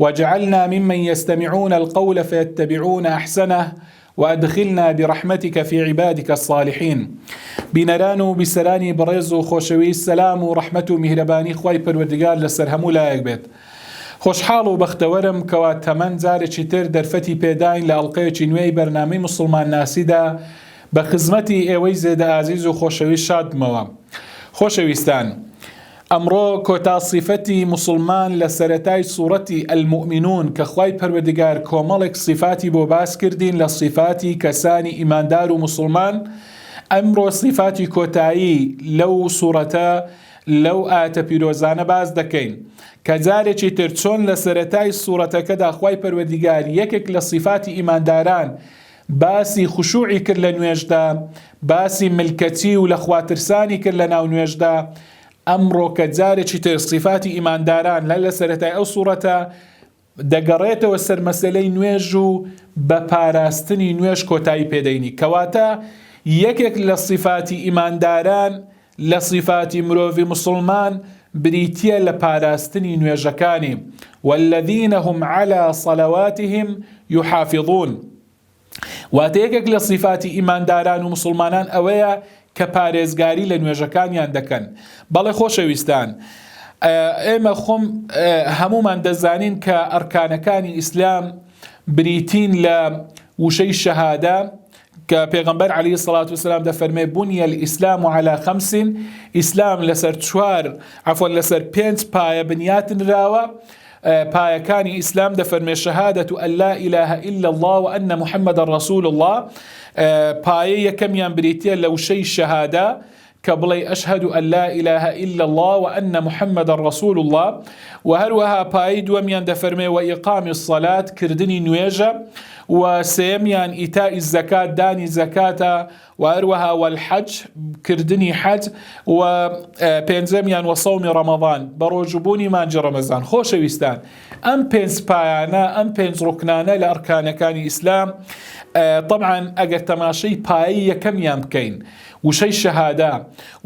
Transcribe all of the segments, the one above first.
وجعلنا ممن یستمعون القول فیتبعون احسنه وادخلنا برحمتک فی عبادک الصالحین بینەران و بیسەرانی بەڕێز و خۆشەویست سەلام و ڕەحمەت و میهرەبانی خوای پەروەردگار لەسەر هەموو لایەک بێت خۆشحاڵ و بەختەوەرم کەوا تەمەن جارێکی تر دەرفەتی پێداین لە ئەڵلقەیەکی نوێی بەرنامەی مسلمان ناسیدا بە خزمەتی ئێوەی زێدە ئازیز و خۆشەویست شادبمەوە خۆشەویستان ئەمڕۆ کۆتا سیفەتی موسڵمان لە سەرەتای سوڕەتی المومنون کە خوای پەروەردگار کۆمەڵێک سیفاتی بۆ باس کردین لە سیفاتی کەسانی ئیماندار و موسڵمان ئەمڕۆ سیفاتی کۆتایی لەو سوڕەتە لەو ئاتە پیرۆزانە باس دەکەین کە جارێکی تر چۆن لە سەرەتای سوڕەتەکەدا خوای پەروەردگار یەکێک لە سیفاتی ئیمانداران باسی خشوعی کرد لە نوێژدا، باسی ملکەچی و لە خوا ترسانی کرد لە ناو نوێژدا، ئەمڕۆ کە جارێکی تر سیفاتی ئیمانداران لە لە سەرەتای ئەو سوڕەتە دەگەڕێتەوە سەر مەسەلەی نوێژ و بە پاراستنی نوێژ کۆتایی پێ دەینی کەواتە یەکێک لە سیفاتی ئیمانداران لە سیفاتی مرۆڤی موسڵمان بریتیە لە پاراستنی نوێژەکانی، والذین هم علی صلواتهم یحافظون، واتە یەکێک لە سیفاتی ئیمانداران و موسڵمانان ئەوەیە کە پارێزگاری لە نوێژەکانیان دەکەن، بەڵێ خۆشەویستان ئێمە خۆم هەموومان دەزانین کە ئەرکانەکانی ئیسلام بریتین لە وشەی شەهادە، کە پێغەمبەر عەلی سەڵات وسلام دەفەرمێ بنی الاسلام و علا خمس ئیسلام لەسەر چوار عفۆن لەسەر پێنج پایە بنیاتنراوە پایەکانی ئیسلام دەفەرمێ شەهادەت و ئەللا ئیلاهە ئیلا الله و ئەنە محەممەدە ڕسول الله پایە یەکەمیان بریتە لە وشەی شەهادە کە بڵێی اشهد ان لا اله الا اللە و ان محمدا رسول اللە و هەروەها پایەی دووەمیان دەفەرمێ و اقام الصلاة کردنی نوێژە و سێمیان ئیتاء الزکات دانی زکاتە و هەروەها والحج کردنی حج و پێنجەمیان و صوم رمضان بەڕۆژبوونی مانجی رمضان خۆشەویستان ئەم پێنج پایانە ئەم پێنج ڕوکنانە لە ئەرکانەکانی ئیسلام طبعا ئەگەر تەماشەی پایی یەکەمیان بکەین وشەی شەهادە،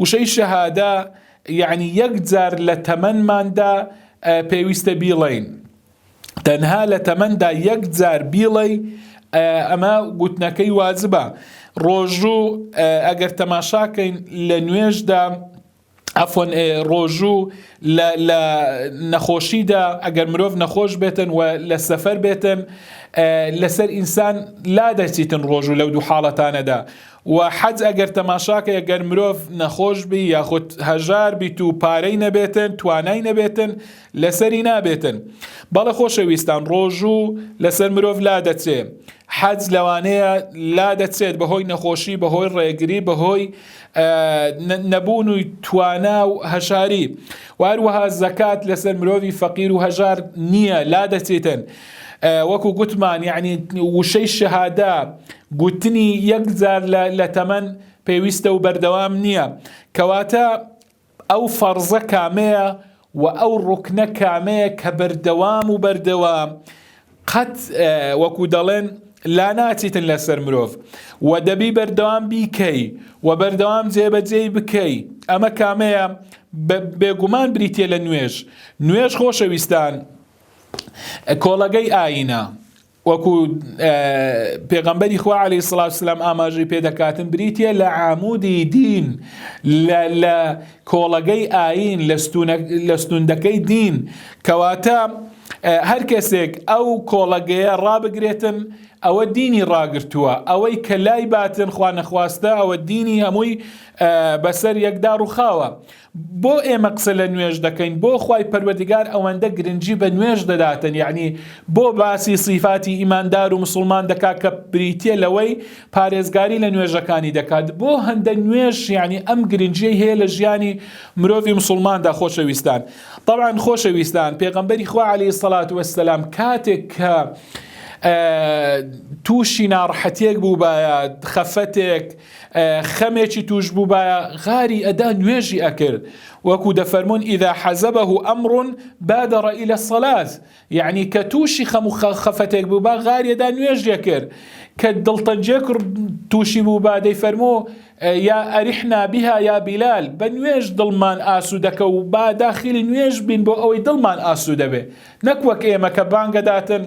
وشەی شەهادە یەعنی یەک جار لە تەمەنماندا پێویستە بیڵێین. تەنها لە تەمەندا یەک جار بیڵێی ئەمە گوتنەکەی واجبە. ڕۆژوو ئەگەر تەماشاکەین لە نوێژدا عفوا ڕۆژوو لە لە نەخۆشیدا ئەگەر مرۆڤ نەخۆش بێتن و لە سەفەر بێتن لەسەر ئینسان لا دەچیتن ڕۆژوو لەو دوو حاڵەتانەدا و حەج ئەگەر تەماشاکە ئەگەر مرۆڤ نەخۆش بی یاخود هەژار بیت و پارەی نەبێتن توانای نەبێتن لەسەری نابێتن بەڵە خۆشەویستان ڕۆژوو لەسەر مرۆڤ لا دەچێ حەج لەوانەیە لا دەچێت بەهۆی نەخۆشی بەهۆی ڕێگری بەهۆی نەبوون و توانا و هەژاری واروەها زەکات لەسەر مرۆڤی فەقیر و هەژار نییە لا دەچێتن وەکو گوتمان یعنی وشەی شەهادا گوتنی یەکجار لە تەمەن پێویستە و بەردەوام نییە کەواتە ئەو فەرزە کامەیە و ئەو ڕوکنە کامەیە کە بەردەوام و بەردەوام قەت وەکو دەڵێن لا ناچیتن لەسەر مرۆڤ و دەبی بەردەوام بیکەی و بەردەوام جێبەجێی بکەی ئەمە کامەیە بێگومان بریتە لە نوێژ نوێژ خۆشەویستان کۆڵەگەی ئاینە وەکو پێغەمبەری خوا عەلی سڵاو سلام ئاماژەی پێدەکاتن بریتە لە عامودی دین لە کۆڵەگەی ئاین لە ستوندەکەی دین کەواتە هەر کەسێک ئەو کۆڵەگەیە ڕابگرێتن ئەوە دینی ڕاگرتووە ئەوەی کە لای باتن خوا نەخواستە ئەوە دینی هەمووی بەسەر یەکدا ڕوخاوە بۆ ئێمە قسە لە نوێژ دەکەین بۆ خوای پەروەردگار ئەوەندە گرنگی بە نوێژ دەداتن یەعنی بۆ باسی سیفاتی ئیماندار و مسوڵمان دەکات کە بریتیە لەوەی پارێزگاری لە نوێژەکانی دەکات بۆ هەندە نوێژ یەعنی ئەم گرنگیەی هەیە لە ژیانی مرۆڤی مسوڵماندا خۆشەویستان طبعا خۆشەویستان پێغەمبەری خوا علیه سەلات وەسلام کاتێک کە تووشی ناڕحەتێک بوو بە خەفەتێک خەمێکی توش بووبایە غاری ئەدا نوێژی ئەکرد وەکو دەفەرمونون ئیدا حەزەبە و ئەمڕون بادەڕە ئیلە سەلات یعنی کە تووشی خەم و خەفەتێک بوو با غاریەدا نوێژ دەکرد کە دڵتەنجێک تووشی بوو با دەی فەرمۆ یا ئەریحنا بها یا بیلال بە نوێژ دڵمان ئاسوودەکە و با داخلی نوێژ بین بۆ ئەوەی دڵمان ئاسوودەبێ نەک وەک ئێمە کە بانگەداتن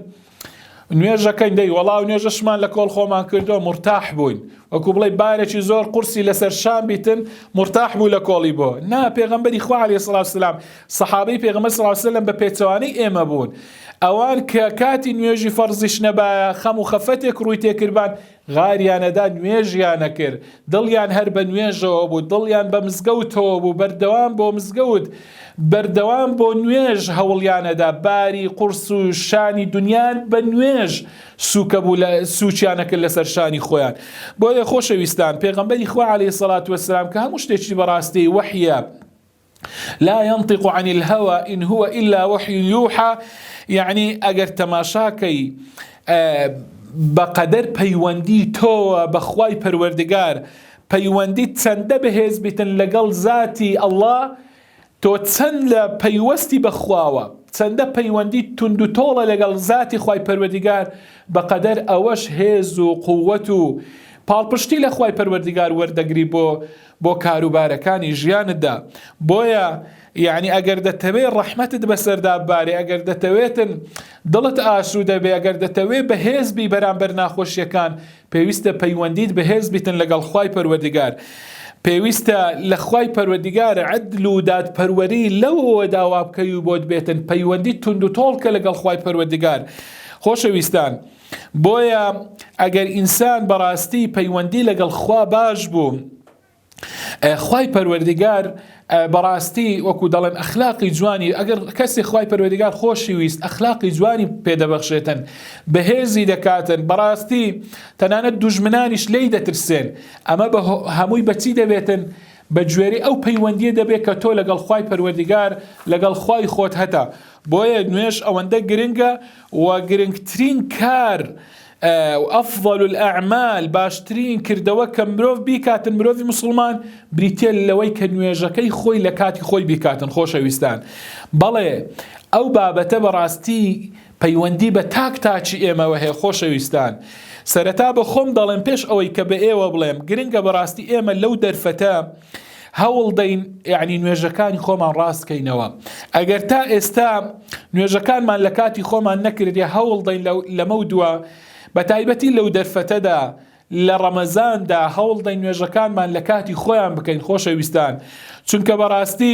نوێژەکەین دەی وەڵاو نوێژەشمان لە کۆڵ خۆمان کردو مرتاح بووین وەکو بڵێ بارێکی زۆر قورسی لەسەر شان بیتن مرتاح بوو لە کۆڵی بۆ نا پێغمبەری خوا عليه سلااو سلام سەحابەی پێغمە سلااوسلم بە پێچوانەی ئێمە بوون ئەوان کە کاتی نوێژی فەرزیش نەبایە خەم و خەفەتێک ڕووی تێکردبان غاریانەدا نوێژیانە کرد، دڵیان هەر بە نوێژەوە بوو، دڵیان بە مزگەوتەوە بوو، بەردەوام بۆ مزگەوت، بەردەوام بۆ نوێژ هەوڵیانەدا، باری قوڕس و شانی دونیان بە نوێژ سووکە بوو لە سووکیانەکرد لەسەر شانی خۆیان. بۆیە خۆشەویستان، پێغەمبەری خوا عەلەیهی سەڵات وەسەلام کە هەموو شتێکی بەڕاستێی وەحیە، لا ينطق عن الهوى ان هو الا وحی یوحا یعنی ئەگەر تەماشاکەی بەقەدەر پەیوەندی تۆوە بەخوای پەروەردگار پەیوەندی چەندە بەهێز بیتن لەگەڵ زاتی ئەڵا تۆ چەند لە پەیوەستی بەخواوە چەندە پەیوەندی تونند و تۆڵە لەگەڵ زاتی خی پەروەردگار بەقەدەر ئەوەش هێز و قووەت و پاڵپشتی لە خی پەروەردگار وەردەگری بۆ بۆ کاروبارەکانی ژیانتدا بۆیە یعنی ئەگەر دەتەوێت ڕەحمەتت بەسەردا بارێ ئەگەر دەتەوێتن دڵت ئاسوو دەبێ ئەگەر دەتەوێت بەهێزبی بەرامبەر ناخۆشیەکان پێویستە پەیوەندیت بەهێز بیتن لەگەڵ خی پەروەردگار. پێویستە لە خی پەروەردگار عدل و دادپەروەری لەوەوە داوا بکەی و بۆت بێتن پەیوەندی تونند و تۆڵکە لەگەڵ خی پەروەردگار خۆشەویستان. بۆیە ئەگەر ئینسان بەڕاستی پەیوەندی لەگەڵ خوا باش بوو خوای پەروەردگار بەڕاستی وەکو دەڵێن ئەخلاقی جوانی ئەگەر کەسی خوای پەروەردگار خۆشی ویست ئەخلاقی جوانی پێدەبەخشێتن بەهێزی دەکاتن بەڕاستی تەنانەت دوژمنانیش لی دەترسێن ئەمە بە هەمووی بەچی دەبێتن بە گوێری ئەو پەیوەندیە دەبێت کە تۆ لەگەڵ خی پەروەردگار لەگەڵ خی خۆت هەتا بۆیە نوێش ئەوەندە گرنگە و گرنگترین کار و افضل الاعمال باشترین کردەوە کە مرۆڤ بیکاتن مرۆڤی مسلمان بریتە لەوەی کە نوێژەکەی خۆی لە کاتی خۆی بیکاتن خۆشەویستان بەڵێ ئەو بابەتە بەڕاستی پەیوەندی بە تاک تاچی ئێمەوە هەیە خۆشەویستان سەرەتا بە خۆم دەڵێم پێش ئەوەی کە بە ئێوە بڵێم گرنگە بەڕاستی ئێمە لەو دەرفەتە هەوڵدەین یعنی نوێژەکانی خۆمان ڕاستکەینەوە ئەگەر تا ئێستا نوێژەکانمان لە کاتی خۆمان نەکردی هەوڵدەین لەمە دووە بە تایبەتی لەو دەرفەتەدا لە ڕەمەزاندا هەوڵدەین نوێژەکانمان لە کاتی خۆیان بکەین خۆشەویستان چونکە بەڕاستی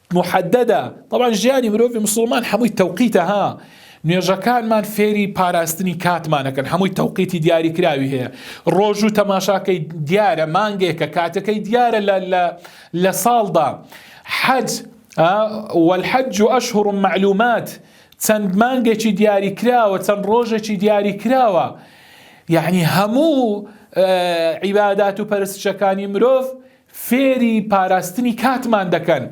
محددە طبعا ژیانی مرۆڤی مسلمان هەمووی تەوقیتە ها نوێژەکانمان فێری پاراستنی کاتمانەکەن هەمووی تەوقیتی دیاری کراوی هەیە ڕۆژ و تەماشاکەی دیارە مانگێکە کاتەکەی دیارە لە ساڵدا حەج والحج أشهر معلومات چەند مانگێکی دیاری کراوە چەند ڕۆژێکی دیاری کراوە یعنی هەموو عیبادات و پەرستشەکانی مرۆڤ فێری پاراستنی کاتمان دەکەن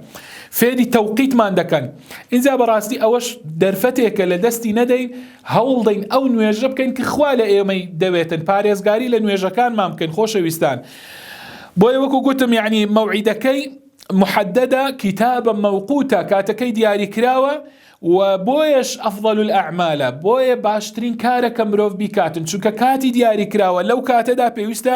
فێری تەوقیتمان دەکەن اینجا بەڕاستی ئەوەش دەرفەتێکە لە دەستی نەدەین هەوڵدەین ئەو نوێژە بکەین کە خوا لە ئێمەی دەوێتن پارێزگاری لە نوێژەکانمان بکەین خۆشەویستان بۆیە وەکو گوتم یعنی مەوعیدەکەی محددە کتابە مەوقوتە کاتەکەی دیاری کراوە و بۆیەش ئەفضل الأعمالە بۆیە باشترین کارە کە مرۆڤ بیکاتن چونکە کاتی دیاری کراوە لەو کاتەدا پێویستە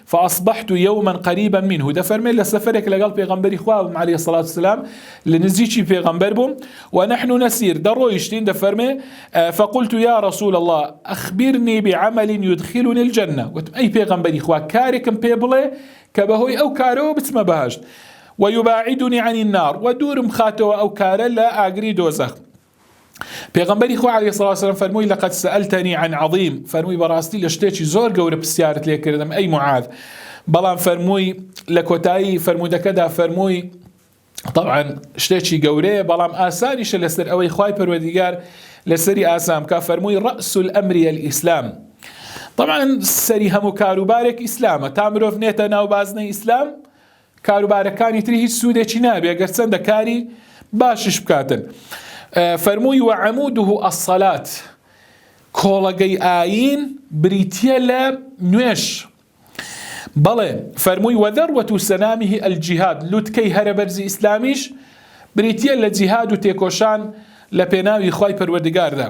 فاصبحت یوما قریبا منه دەفەرمێت لە سەفەرێک لەگەڵ پێغەمبەری خوا بووم عەلەیهی سڵات وسلام لە نزیکی پێغەمبەر بووم و نحن نسیر دەڕۆیشتین دەفەرمێ فقلت یا رسول الله اخبرني بعمل يدخلني الجنة وتم ئەی پێغەمبەری خوا کارێکم پێ بڵێ کە بەهۆی ئەو کارەوە بچمە بەهشت ويباعدني عن النار ودورم خاتەوە ئەو کارە لە ئاگری دۆزەخ پێغمبەری خو علی سڵ وسلم فەرمووی لەقەت سەلتەنی عن عظیم فەرمووی بەڕاستی لە شتێکی زۆر گەورە پرسیارت لێ کردم ئەی معاد بەڵام فەرمووی لە کۆتایی فەرمودەکەدا فەرمووی طبعا شتێکی گەورەیە بەڵام ئاسانیشە لەسەر ئەوەی خی پەروەدیگار لەسەری ئاسام کا فەرمووی ڕسول ئەمری ئیسلام طبعا سەری هەموو کاروبارێک ئیسلامە تا مرۆڤ نێتە ناو بازنەی ئیسلام کاروبارەکانی تری هیچ سوودێکی نابێ گەر چەندە کاری باشش بکاتن فەرمووی وە عەمودوه ئەسەلات کۆڵەگەی ئاین بریتە لە نوێش بەڵێ فەرمووی وەدەڕوەت و سەنامیه ئەلجیهاد لوتکەی هەرە بەرزی ئیسلامیش بریتە لە جیهاد و تێکۆشان لە پێناوی خی پەروەردگاردا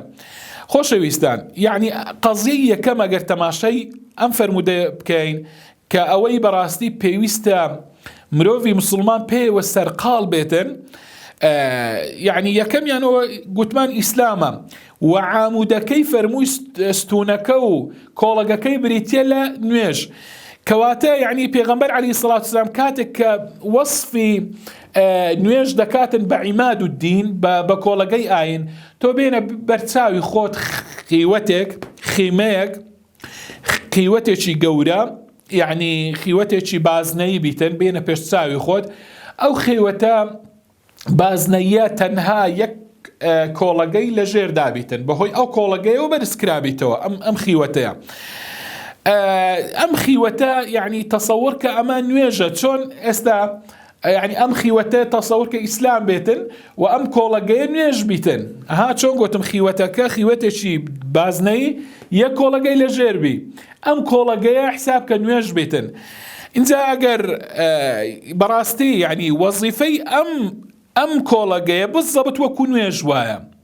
خۆشەویستان یعنی قەزیە یەکەم ئەگەر تەماشای ئەم فەرمودە بکەین کە ئەوەی بەڕاستی پێویستە مرۆڤی مسلمان پێیەوە سەرقاڵ بێتن یعنی یەکەمیانەوە گوتمان ئیسلامە و عامودەکەی فەرمووی ستونەکە و کۆڵەگەکەی بریتە لە نوێژ کەواتە یعنی پێغمبەر علی سڵات سلام کاتێک کە وەصفی نوێژ دەکاتن بە عیماد و دین بە کۆڵەگەی ئاین تۆ بێنە بەرچاوی خۆت خیوەتێک خیمەیەک خیوەتێکی گەورە یعنی خیوەتێکی بازنەیی بیتن بینە پێش چاوی خۆت ئەو خێوەتە بازنەیە تەنها یەک کۆڵەگەی لە ژێر دابیتن بەهۆی ئەو کۆڵەگەیەوە بەرزکرابیتەوە ئەم ئەم خیوەتەیە ئەم خیوەتە یعنی تەسەور کە ئەمە نوێژە چۆن ئێستا یەعنی ئەم خیوەتە تەسەور کە ئیسلام بێتن و ئەم کۆڵەگەیە نوێژ بیتن ها چۆن گوتم خیوەتەکە خیوەتێکی بازنەی یە کۆڵەگەی لە ژێربی ئەم کۆڵەگەیە حساب کە نوێژ بیتن اینجا ئەگەر بەڕاستی یعنی وەزیفەی ئەم ئەم کۆڵەگەیە بزەبت وەکو نوێژ وایە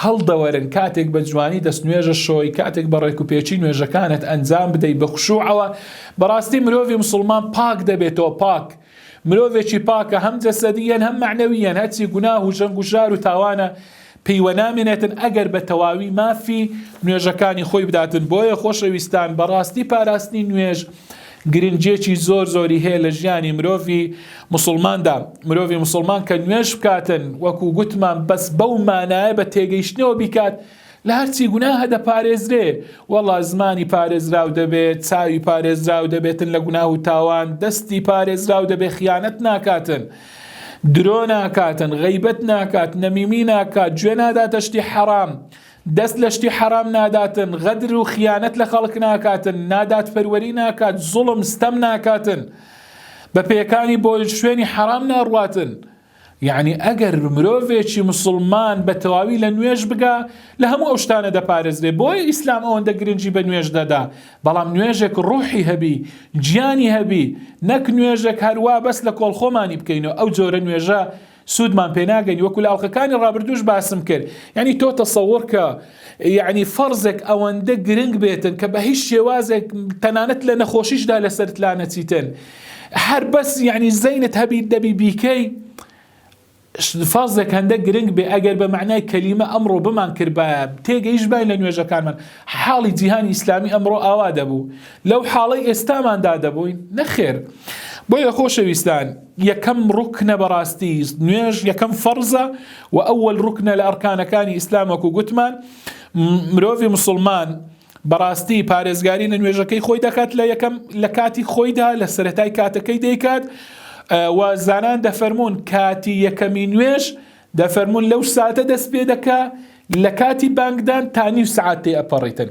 هەڵدەوەرن کاتێک بە جوانی دەست نوێژە شۆی کاتێک بە ڕێک و پێچی نوێژەکانت ئەنجام بدەی بە خشوعەوە بەڕاستی مرۆڤی مسلمان پاک دەبێتەوە پاک مرۆڤێکی پاکە هەم جەسەدیەن هەم معنەویەن هەرچی گوناه و جەنگ و ژار و تاوانە پێیوە نامێنێتن ئەگەر بە تەواوی مافی نوێژەکانی خۆی بداتن بۆیە خۆشەویستان بەڕاستی پاراستنی نوێژ گرنگیەکی زۆر زۆری هەیە لە ژیانی مرۆڤی مسوڵماندا مرۆڤی مسوڵمان کە نوێش بکاتن وەکو گوتمان بەس بەو مانایە بە تێگەیشتنەوە بیکات لە هەرچی گوناهە دەپارێزرێ وەڵا زمانی پارێزراو دەبێت چاوی پارێزراو دەبێتن لە گوناه و تاوان دەستی پارێزراو دەبێت خیانەت ناکاتن درۆ ناکاتن غیبەت ناکات نەمیمی ناکات گوێ ناداتە شتی حەرام. حرام. دەست لە شتی حەرام ناداتن غەدر و خیانەت لە خەڵک ناکاتن نادات پەروەری ناکات زوڵم ستەم ناکاتن بە پێکانی بۆ شوێنی حەرام ناڕواتن یعنی ئەگەر مرۆڤێکی مسلمان بە تەواوی لە نوێژ بگا لە هەموو ئەو شتانە دەپارێزرێ بۆی ئیسلام ئەوەندە گرنگی بە نوێژ دەدا بەڵام نوێژێک ڕوحی هەبی گیانی هەبی نەک نوێژێک هەروا بەس لە کۆڵ خۆمانی بکەینەوە ئەو جۆرە نوێژە سودمان پێ ناگەنی وەکو لە ئەڵلقەکانی ڕابردوش باسم کرد یعنی تۆ تەسەوڕکە یعنی فەرزێک ئەوەندە گرنگ بێتن کە بە هیچ شێوازێک تەنانەت لە نەخۆشیشدا لەسەرت لا نەچیتن هەر بەس یعنی زەینت هەبیت دەبی بیکەی فازێک هەندە گرنگ بێ ئەگەر بە معنای کەلیمە ئەمڕۆ بمان کردبایە تێگەیش باین لە نوێژەکانمان حاڵی جیهانی ئیسلامی ئەمڕۆ ئاوا دەبوو لەو حاڵی ئێستاماندا دەبووین نەخێر بۆیە خۆشەویستان یەکەم ڕوکنە بەڕاستی نوێژ یەکەم فەرزە و ئەوەل ڕوکنە لە ئەرکانەکانی ئیسلامەک و گوتمان مرۆڤی مسلمان بەڕاستی پارێزگاری لە نوێژەکەی خۆی دەکات لە یەکەم لە کاتی خۆیدا لە سەتای کاتەکەی دەیکات و زانان دەفەرمونون کاتی یەکەمی نوێش دەفەرمونون لەو ساتە دەست پێ دەکا لە کاتی بانگدان تا نیو سعات تێ ئەپەڕیتن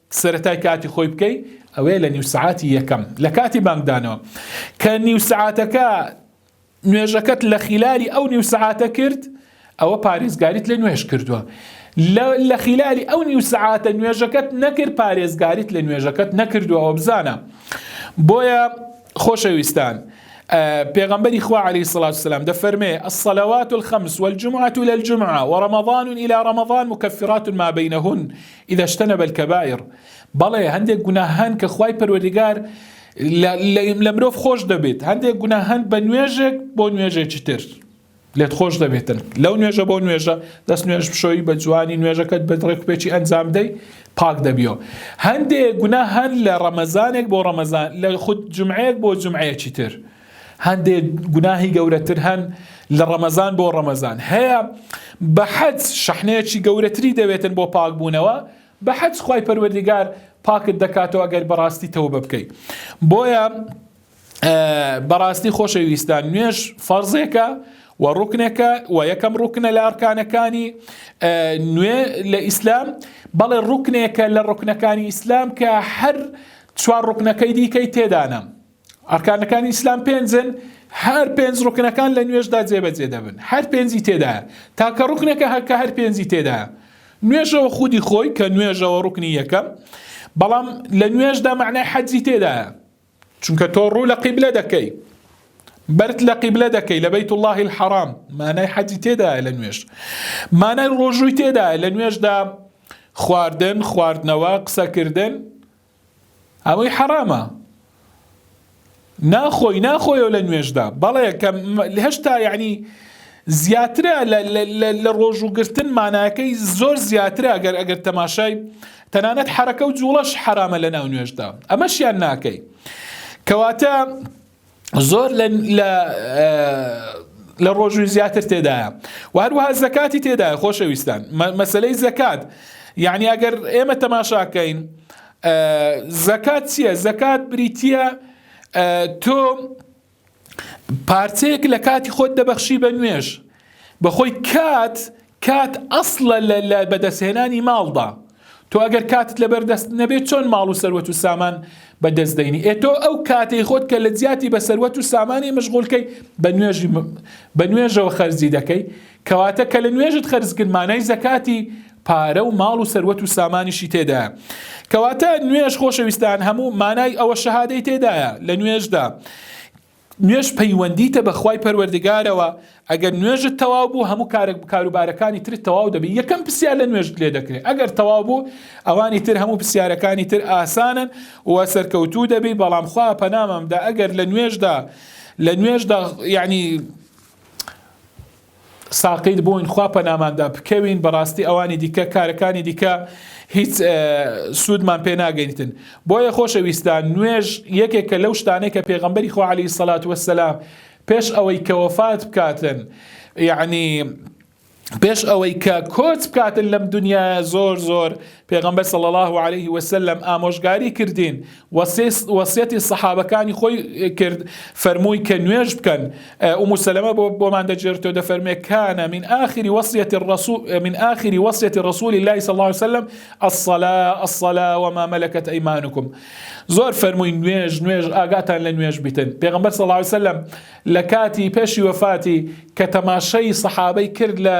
سەرەتای کاتی خۆی بکەی ئەوەیە لە نیو سەعاتی یەکەم لە کاتی بانگدانەوە کە نیو سەعاتەکە نوێژەکەت لە خیلالی ئەو نیو سەعاتە کرد ئەوە پارێزگاریت لە نوێش کردووە لە خیلالی ئەو نیو سەعاتە نوێژەکەت نەکرد پارێزگاریت لە نوێژەکەت نەکردووە ئەو بزانە بۆیە خۆشەویستان پێغمبەری خوا عليه الصلاة والسلام دەفەرمێ الصلوات الخمس والجمعة إلى الجمعة ورمضان إلى رمضان مكفرات ما بينهن اذا اجتنب الکبائر بەڵێ هەندێک گوناه هەن کە خوای پەروەردگار لە مرۆڤ خۆش دەبێت هەندێک گوناه هەن بە نوێژێک بۆ نوێژێکی تر لێت خۆش دەبێتن لەو نوێژە بۆ نوێژە دەست نوێژ بشۆی بە جوانی نوێژەکەت بە ڕێکپێکی ئەنجام دەی پاک دەبیەوە هەندێک گونا هەن لە ڕەمەزانێک بۆ ڕەمەزان لە خود جمعەیەک بۆ جمعەیەکی تر هەندێ گوناهی گەورەتر هەن لە ڕەمەزان بۆ ڕەمەزان هەیە بە حەج شەحنەیەکی گەورەتری دەوێتن بۆ پاک بوونەوە بە حەج خی پەروەردیگار پاکت دەکاتەوە گەر بەڕاستی تەوە بە بکەیت بۆیە بەڕاستی خۆشەویستان نوێش فەرزێکە و ڕوکنێکە و یەکەم ڕوکنە لە ئەرکانەکانی نوێ لە ئیسلام بەڵێ ڕوکنێکە لە ڕوکنەکانی ئیسلام کە هەر چوار ڕوکنەکەی دیکەی تێدانە ئەرکانەکانی ئیسلام پێنجن هەر پێنج ڕوکنەکان لە نوێژدا جێبەجێ دەبن هەر پێنجی تێدا تاکە ڕوکنێکە هەکە هەر پێنجی تێدا نوێژەوە خودی خۆی کە نوێژەوە ڕوکنی یەکەم بەڵام لە نوێژدا معنای حەجی تێدا چونکە تۆ ڕوو لە قیبلە دەکەی بەرت لە قیبلە دەکەی لە بەیت اللهی الحرام مانای حەجی تێدا لە نوێژ مانای ڕۆژووی تێدا لە نوێژدا خواردن خواردنەوە قسەکردن ئەوەی حەڕامە ناخۆی ناخۆیەوە لە نوێژدا بەڵێ کە هەشتا یعنی زیاترە لە ڕۆژ و گرتن ماناکەی زۆر زیاترە ئەگەر ئەگەر تەماشای تەنانەت حرەکە و جوڵەش حرامە لە ناو نوێژدا ئەمەشیان ناکەی کەواتە زۆر لە ڕۆژوی زیاتر تێدایە و هەروەها زەکاتی تێدایە خۆشەویستان مەسلەی زەکات یعنی ئەگەر ئێمە تەماشاکەین زەکات چییە زەکات بریتە تۆ پارچەیەک لە کاتی خۆت دەبەخشی بە نوێش بەخۆی کات کات ئەسڵە لە لە بەدەستهێنانی ماڵدا، تۆ ئەگەر کاتت لەبەر دەست نەبێت چۆن ماڵ و سەروەت و سامان بە دەست دەینی؟ ئێ تۆ ئەو کاتەی خۆت کە لە جیاتی بە سەروەت و سامانی مشغول کەی بە نوێژ بە نوێژەوە خەرجی دەکەی، کەواتە کە لە نوێژت خەرج کرد مانای زەکاتی پارە و ماڵ و سەروەت و سامانیشی تێدایە. کەواتە نوێژ خۆشەویستان هەموو مانای ئەوە شەهادەی تێدایە لە نوێژدا. نوێژ پەیوەندیتە بە خوای پەروەردگارەوە ئەگەر نوێژت تەواو بوو هەموو کارێک کاروبارەکانی ترت تەواو دەبی یەکەم پرسیار لە نوێژت لێ دەکرێت ئەگەر تەواو بوو ئەوانی تر هەموو پرسیارەکانی تر ئاسانن و سەرکەوتوو دەبی بەڵام خوا پەنامەمدا ئەگەر لە نوێژدا لە نوێژدا یعنی ساقیت بووین خوا پەناماندا بکەوین بەڕاستی ئەوانی دیکە کارەکانی دیکە هیچ سوودمان پێ ناگەیتن بۆیە خۆشە ویستان نوێژ یەکێکە لەو شتانێک کە پێغمبەری خوا علی سەلات وەسەلام پێش ئەوەی کە وەفات بکاتن یعنی پێش ئەوەی کە کۆچ بکاتن لەم دنیا زۆر زۆر پێغەمبەر صلی اللە علیه وسلم ئامۆژگاری کردین وەسیەتی سەحابەکانی خۆی کرد فەرمووی کە نوێژ بکەن ئومو سەلەمە بۆمان دەجێرتەوە دەفەرمێ کانە من آخری وەسیەتی الرسول من آخری وەسیەتی رسول الله صلی الله علیه وسلم الصلاة الصلاة وما ملكت ايمانكم زۆر فەرمووی نوێژ نوێژ ئاگاتان لە نوێژ بیتن پێغەمبەر صلی الله علیه وسلم لە کاتی پێشی وفاتی کە تەماشەی سەحابەی کرد لە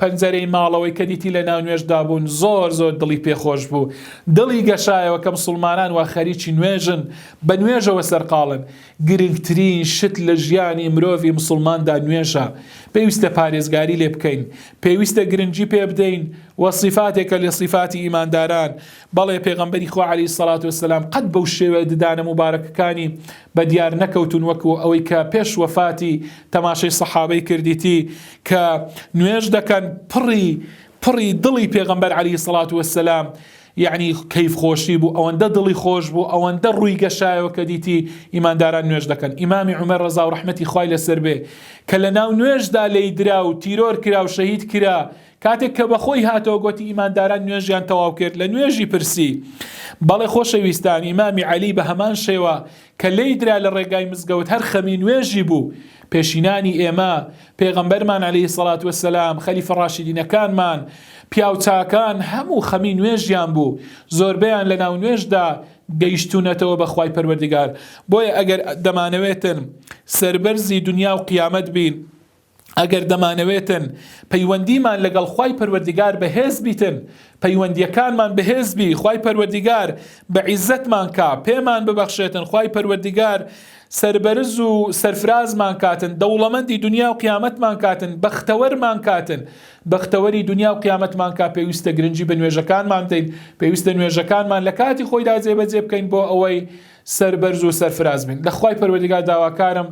پەنجەرەی ماڵەوەی کە دیتی لە ناو نوێژدا بوون زۆر زۆر دڵی پێ خۆش بوو دڵی گەشایەوە کە مسوڵمانان وا خەریکی نوێژن بە نوێژەوە سەرقاڵن گرنگترین شت لە ژیانی مرۆڤی مسوڵماندا نوێژە پێویستە پارێزگاری لێ بکەین پێویستە گرنگی پێ بدەین و صفاتێکە لە صفاتی ئیمانداران بەڵێ پێغەمبەری خوا عەلەیهی سەڵات وسلام قەت بەو شێوە ددانە موبارەکەکانی بە دیار نەکەوتون وەکو ئەوەی کە پێش وەفاتی تەماشەی سەحابەی کردیتی کە نوێژ دەکەن پڕی پڕی دڵی پێغەمبەر عەلی سەڵات وەسەلام یعنی کەیف خۆشی بوو ئەوەندە دڵی خۆش بوو ئەوەندە ڕووی گەشایەوە کە دیتی ئیمانداران نوێژ دەکەن ئیمامی عمر ڕزا و ڕحمەتی خی لەسەر بێ کە لە ناو نوێژدا لی درا و تیرۆر کرا و شەهید کرا کاتێک کە بەخۆی هاتەوە گوتی ئیمانداران نوێژیان تەواو کرد لە نوێژی پرسی بەڵێ خۆشەویستان ئیمامی علی بە هەمان شێوە کە لێی درا لە ڕێگای مزگەوت هەر خەمی نوێژی بوو، پێشینانی ئێمە، پێغەمبەرمان علیە سڵات وسلام، خەلیفە ڕاشیدینەکانمان، پیاو چاکان هەموو خەمی نوێژیان بوو، زۆربەیان لە ناو نوێژدا گەیشتونەتەوە بە خوای پەروەردگار، بۆیە ئەگەر دەمانەوێتن سەربەرزی دنیا و قیامەت بین، ئەگەر دەمانەوێتن پەیوەندیمان لەگەڵ خوای پەروەردیگار بەهێز بیتن پەیوەندیەکانمان بەهێز بی خوای پەروەردیگار بە عیزەتمان کا پێمان ببەخشێتن خوای پەروەردیگار سربەرز و سەرفرازمان کاتن دەوڵەمەندی دنیا و قیامەتمان کاتن بەختەوەرمان کاتن بەختەوەری دنیا و قیامەتمان کا پێویستە گرنگی بە نوێژەکانمان دەین پێویستە نوێژەکانمان لە کاتی خۆیدا جێبەجێ بکەین بۆ ئەوەی سەربەرز و سەرفراز بن لە خوای پەروەردگار داواکارم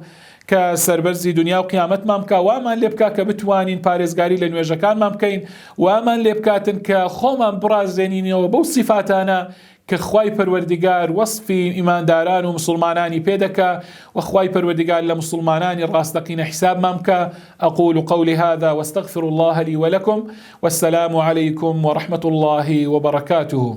کە سەربەرزی دنیا و قیامەتمان بکا وامان لێ بکا کە بتوانین پارێزگاری لە نوێژەکانمان بکەین وامان لێ بکاتن کە خۆمان بڕازێنینەوە بەو سیفاتانە کە خوای پەروەردگار وەصفی ئیمانداران و مسلمانانی پێدەکا و خوای پەروەردگار لە مسلمانانی ڕاستەقینە حیسابمان بکا أقول قولي هذا واستغفر الله لي ولكم والسلام عليكم ورحمة الله وبركاته